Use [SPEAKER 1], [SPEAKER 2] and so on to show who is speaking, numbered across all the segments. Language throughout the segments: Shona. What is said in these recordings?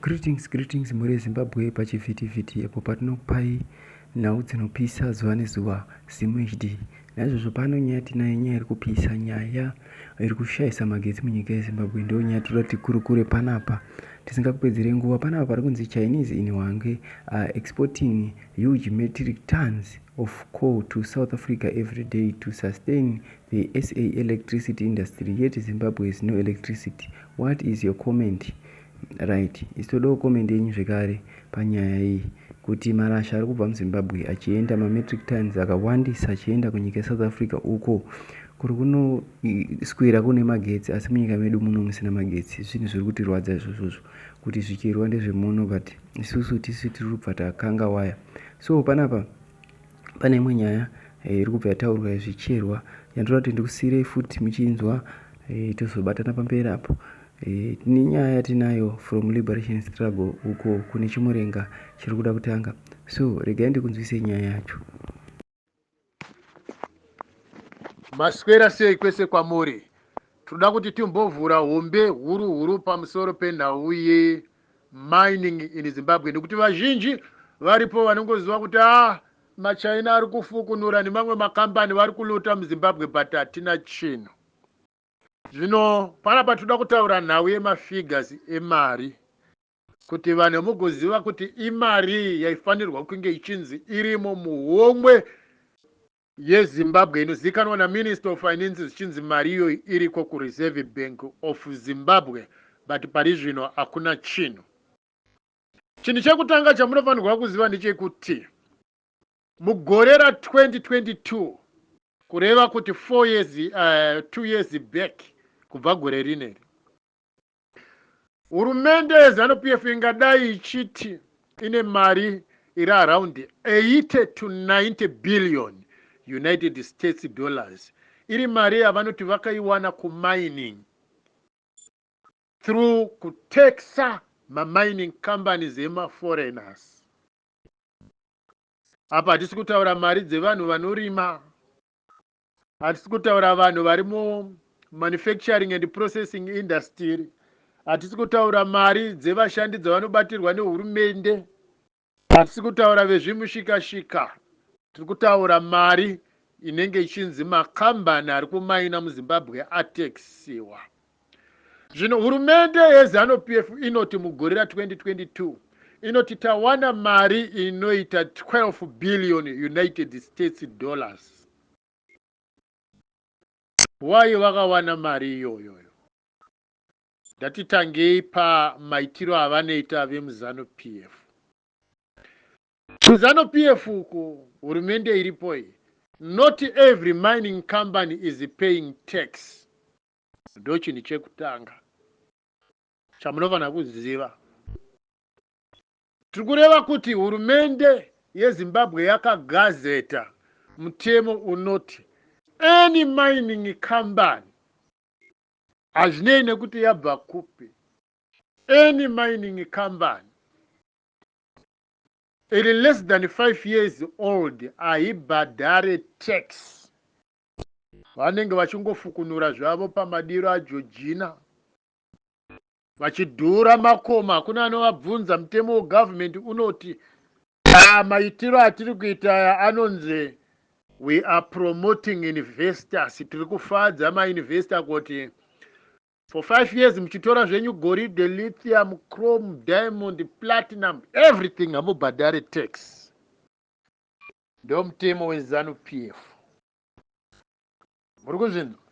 [SPEAKER 1] Greetings, greetings mhuri yeZimbabwe pachivhitivhiti apo patinokupai nhau dzinopisa zuva nezuva ZimHD. Naizvozvo pano nyaya tinayo nyaya iri kupisa, nyaya iri kushaisa magetsi munyika yeZimbabwe ndiyo nyaya tinoda tikurukure panapa tisingakupedzere nguva. Panapa pari kunzi Chinese in Hwange are exporting huge metric tons of coal to South Africa every day to sustain The SA electricity industry yet Zimbabwe has no electricity. What is your comment? Right, isi todawo comment yenyu zvekare panyaya iyi kuti marasha ari kubva muzimbabwe achienda mametric tons akawandisa achienda kunyika yesouth africa uko kuri kunoswera kune magetsi asi munyika medu muno musina magetsi zvinhu zviri kutirwadza izvozvozvo kuti zvichirwa ndezvemuno but isusu tisu tiri kubva takanga waya so panapa pane imwe nyaya eh, iri kubva yataurwa yezvicherwa yandoda kuti ndikusiirei futi muchinzwa eh, tozobatana pamberi apo eh, tine nyaya yatinayo from liberation struggle uko kune chimurenga chiri kuda kutanga so regai ndikunzwisei nyaya yacho
[SPEAKER 2] maswera sei kwese kwamuri tinoda kuti timbovhura hombe huru huru pamusoro penhau iyi mining in Zimbabwe nekuti vazhinji varipo vanongoziva kuti ah machaina ari kufukunura nemamwe makambani vari kulota muzimbabwe but hatina chinhu zvino panapa toda kutaura nhau yemafigures emari kuti vanhu mugoziva kuti imarii yaifanirwa kunge ichinzi irimo muhomwe yeZimbabwe inozivikanwa naMinister of Finance zvichinzi mari iyoyi iriko kuReserve Bank of Zimbabwe but parizvino hakuna chinhu. Chinhu chekutanga chamunofanirwa kuziva ndechekuti mugore ra 2022 kureva kuti four years, uh, two years back kubva gore rineri Hurumende yeZanu PF ingadai ichiti ine mari iri around 80 to 90 billion United States dollars iri mari yavanoti vakaiwana kumining through kutexer mamining companies emaforeigners. Apa hatisi kutaura mari dzevanhu vanorima Hatisi kutaura vanhu vari mu manufacturing and processing industry. Hatisi kutaura mari dzevashandi dzavanobatirwa nehurumende. Hatisi kutaura vezvimushikashika. Tiri kutaura mari inenge ichinzi makambani ari kumaina muzimbabwe atexisiwa Zvino hurumende yeZanu PF inoti mugore ra 2022 inoti tawana mari inoita 12 billion United States dollars. Why vakawana mari iyoyoyo? Ndati tangei pamaitiro avanoita vemuZanu PF. KuZanu PF uku hurumende iripo iyi, not every mining company is paying tax. ndochinhu chekutanga chamunofanira kuziva. Tiri kureva kuti hurumende yeZimbabwe yakagazeta mutemo unoti any mining company hazvinei nekuti yabva kupi any mining company iri less than five years old haibhadhare tax Vanenge vachingofukunura zvavo pamadiro aJojina vachidhura makoma. Hakuna anovabvunza. Mutemo wegovernment unoti ah, maitiro atiri kuita aya anonzi we are promoting investors. Tiri kufadza mainvestor kuti for five years muchitora zvenyu goridhe, lithium, chrome, diamond, platinum, everything hamubhadhare tax. ndomutemo wezanu pf muri kuzvinzwa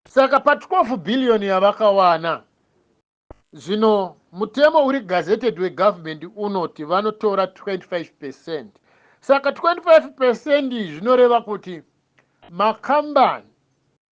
[SPEAKER 2] saka pa 12 billion yavakawana zvino mutemo uri gazetted wegovernment unoti vanotora 25 percent saka 25 percent zvinoreva kuti makambani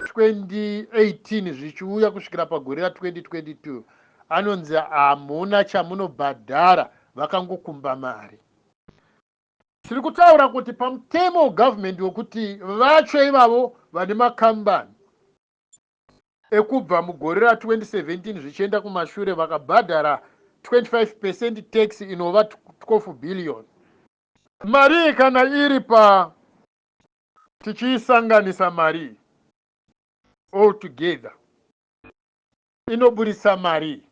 [SPEAKER 2] 2018 zvichiuya kusvikira pagore ra 2022 anonzi hamuna chamunobhadhara vakangokumba mari. Tiri kutaura kuti pamutemo wegovernment wekuti vacho ivavo vane makambani ekubva mugore ra 2017 zvichienda kumashure vakabhadhara 25 percent tax inova 12 billion. Mari iyi kana iri pa tichiisanganisa mari iyi all together inoburitsa mari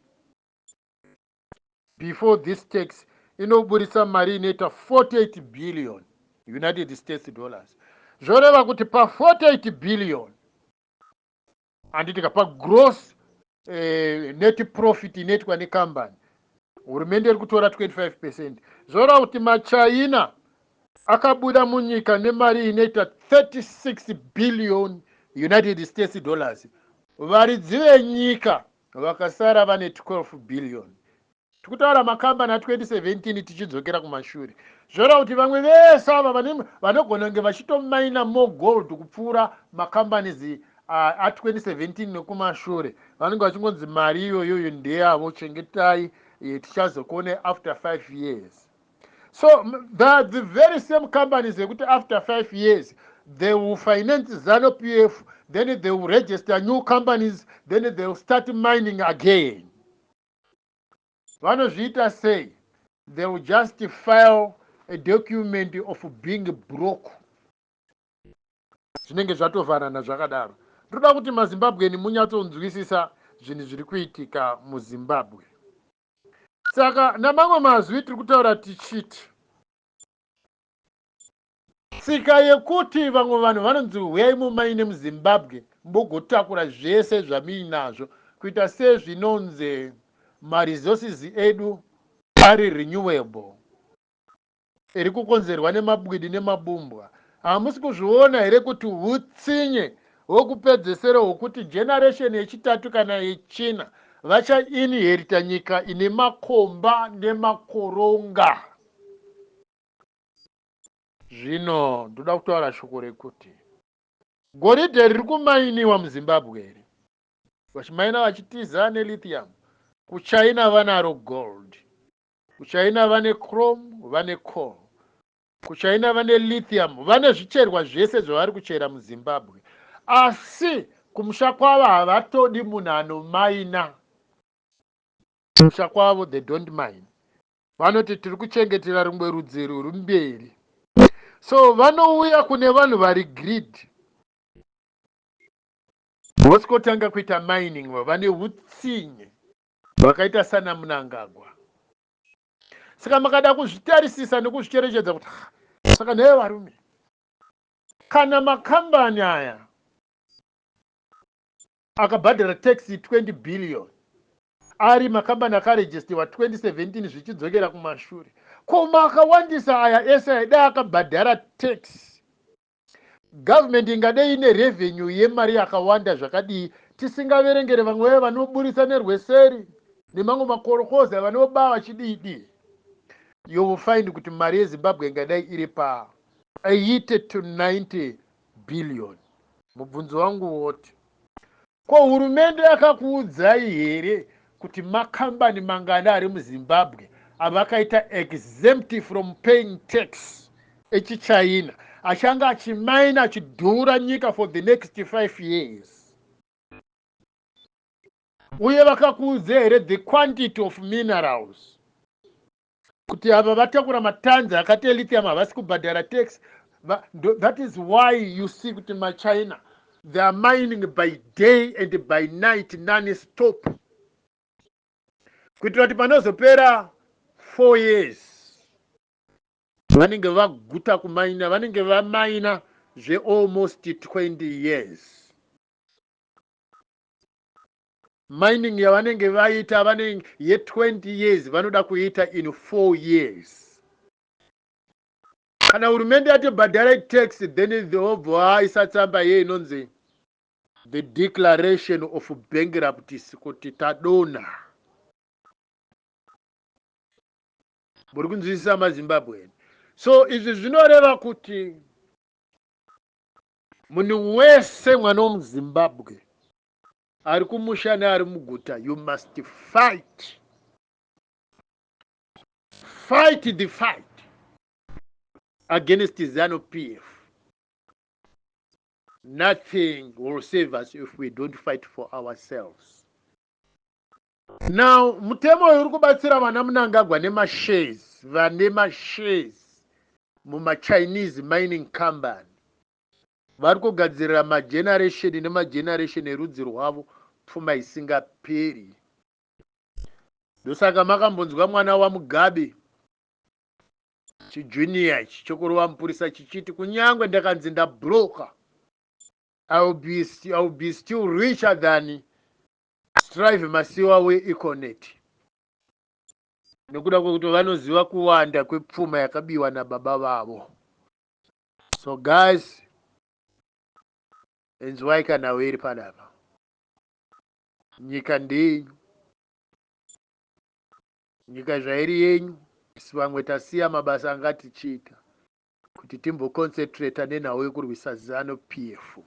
[SPEAKER 2] before this tax inoburitsa mari inoita 48 billion united states dollars zvoreva kuti pa 48 billion handitika pagross eh, net profit inoitwa nekambani hurumende iri kutora 25 percent zvoreva kuti machina akabuda munyika nemari inoita 36 billion united states dollars varidzi venyika vakasara vane 12 billion tiri kutaura makambani a 2017 tichidzokera kumashure zvoreva kuti vamwe vese ava vanogona kunge vachitomaina more gold kupfuura macompanies a 2017 nekumashure vanenge vachingonzi mari iyoyoyo ndeyavo chengetai eh, tichazokuonai after five years so the, the very same companies ekuti after five years they will finance zano p f then they will register new companies then they will start mining again vanozviita sei they will just file a document of being broke zvinenge zvatovanana zvakadaro ndoda kuti mazimbabweni munyatsonzwisisa zvinhu zviri kuitika muzimbabwe saka namamwe mazwi tiri kutaura tichiti Tsika yekuti vamwe vanhu vanonzi huyai mumaine muZimbabwe mugotakura zvese zvamuinazvo kuita sezvinonzi maresources edu ari renewable iri kukonzerwa nemabwidi nemabumbwa. Hamusi kuzviona here kuti hutsinye hwekupedzesera hwekuti generation yechitatu kana yechina vacha inherita nyika ine makomba nemakoronga? Zvino ndoda kutaura shoko rekuti goridhe riri kumainiwa muzimbabwe iri vachimaina vachitiza nelithium kuchina vanaro gold kuchina vane chrome vane coal kuchina vane lithium vane zvicherwa zvese zvavari kuchera muzimbabwe asi kumusha kwavo havatodi munhu anomaina kumusha kwavo they don't mind vanoti tiri kuchengetera rumwe rudzi ruri mberi so vanouya kune vanhu vari grid vosikotanga kuita mining vane utsinye vakaita sana munangagwa saka makada kuzvitarisisa nekuzvicherechedza kuti saka nheye varume kana makambani aya akabhadhara taxi 20 billion ari makambani akarejistewa 2017 zvichidzokera kumashure. Ko makawandisa aya ese aidai akabhadhara tax? Government ingadei ine revenue yemari yakawanda zvakadii tisingaverengere vamwe vaye vanoburitsa nerweseri nemamwe makorokozi avanoba vachididi? You will find kuti mari yeZimbabwe ingadai iri pa 80 to 90 billion. Mubvunzo wangu woti Ko hurumende yakakuudzai here kuti makambani mangani ari muZimbabwe avakaita exempt from paying tax echichina achange achimaina achidhura nyika for the next 5 years? Uye vakakuudzai here the quantity of minerals kuti ava vatakura matanzi akati elithium havasi kubhadhara tax that is why you see kuti machina they are mining by day and by night none stop kuitira kuti panozopera four years vanenge vaguta kumaina vanenge vamaina zvealmost 20 years mining yavanenge vaita vanenge ye 20 years vanoda kuita in 4 years kana hurumende yati bhadharai tax then vobva aisa tsamba ye inonzi the declaration of bankruptcy kuti tadona muri kunzwisisa mazimbabwean so izvi zvinoreva kuti Munhu wese mwana wemuZimbabwe ari kumusha neari muguta you must fight fight the fight against zanu pf nothing will save us if we don't fight for ourselves Now mutemo uyu uri kubatsira vana Mnangagwa nemashares vane mashares mumaChinese mining company vari kugadzirira mageneration nemageneration erudzi rwavo pfuma isingaperi. Ndosaka makambonzwa mwana waMugabe chijunior ichi chokurova mupurisa chichiti kunyange ndakanzi ndabroka I will be, I will be still richer than Strive Masiwa weEconet nekuda kwekuti vanoziva kuwanda kwepfuma yakabiwa nababa vavo so guys inzwai kana wiri panapa nyika ndeyenyu nyika zvairi yenyu isu vamwe tasiya mabasa anga tichiita kuti timboconcentrata nenhau yekurwisa zanu pf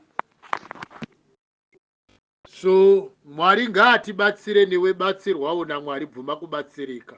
[SPEAKER 2] So Mwari ngaatibatsire newe batsirwawo naMwari bvuma kubatsirika.